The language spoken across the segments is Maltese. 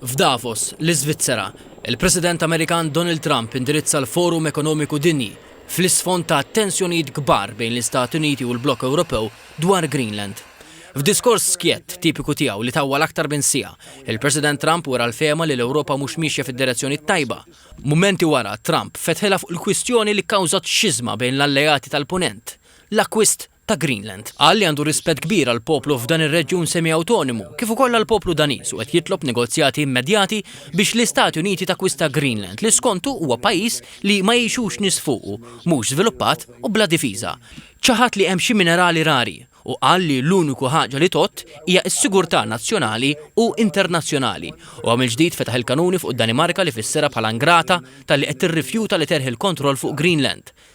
F'Davos, l-Iżvizzera, il-President Amerikan Donald Trump indirizza l-Forum Ekonomiku Dinji, fl-isfond ta' tensjonijiet kbar bejn l-Istati Uniti u l-blokk Ewropew dwar Greenland. F'diskors skjett, tipiku tiegħu li tawwal aktar minn siegħa, il-President Trump wera l-fehma li l-Ewropa mhux miexja fid-direzzjoni t-tajba. Mumenti wara, Trump fetħilha fuq il-kwistjoni li kkawżat xiżma bejn l-alleati tal-Punent, l-akkwist ta' Greenland. Qal li għandu rispett kbir għall-poplu f'dan ir-reġjun semi-awtonmu, kif ukoll għall-poplu Daniż u qed jitlob negozjati immedjati biex l-Istati Uniti takkwista Greenland li skontu huwa pajjiż li ma jgħixux nies fuqu, mhux żviluppat u bla difiża. Ċaħad li hemm xi minerali rari u qal li l-uniku ħaġa li tgħodd hija s-sigurtà nazzjonali u internazzjonali. Huwa mill-ġdid fetaħ il-kanuni fuq id-Danimarka li fisserha bħala ingrata talli qed tirrifjuta li terħi l-kontroll fuq Greenland.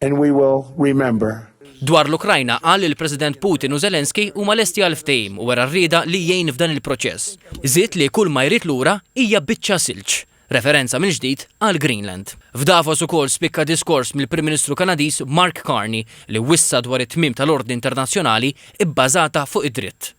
and we will remember. Dwar l-Ukrajna qal li l-President Putin u Zelensky huma lesti għal ftehim u wera r-rieda li jgħin f'dan il-proċess. Żied li kull ma jrid lura hija biċċa silġ, referenza mill-ġdid għal Greenland. F'Davos ukoll spikka diskors mill-Prim Ministru Kanadiż Mark Carney li wissa dwar it-tmiem tal-ordni internazzjonali bbażata fuq id-dritt.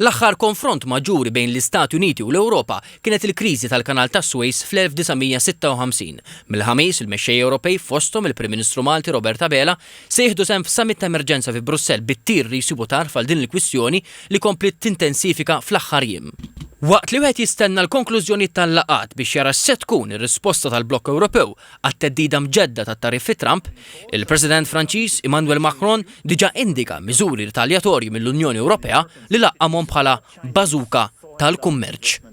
L-aħħar konfront maġġuri bejn l-Istati Uniti u l-Ewropa kienet il-kriżi tal-Kanal tas-Suez fl-1956. Mill-Ħamis, il-mexxejja Ewropej, fosthom il-Prim Ministru Malti Robert Abela, se jieħdu sehem f'summit ta' emerġenza fi Brussell bit-tir li jsibu tarf għal din il-kwistjoni li kompliet tintensifika fl-aħħar jiem. Waqt li wieħed jistenna l-konklużjonijiet tal-laqgħat biex jara x'se tkun ir-risposta tal-blokk Ewropew Għat-theddida mġedda tat-tariffi Trump, il-President Franċiż Emmanuel Macron diġà indika miżuri ritaljatorji mill-Unjoni Ewropea li laqqamhom bħala 'bażuka tal-kummerċ'.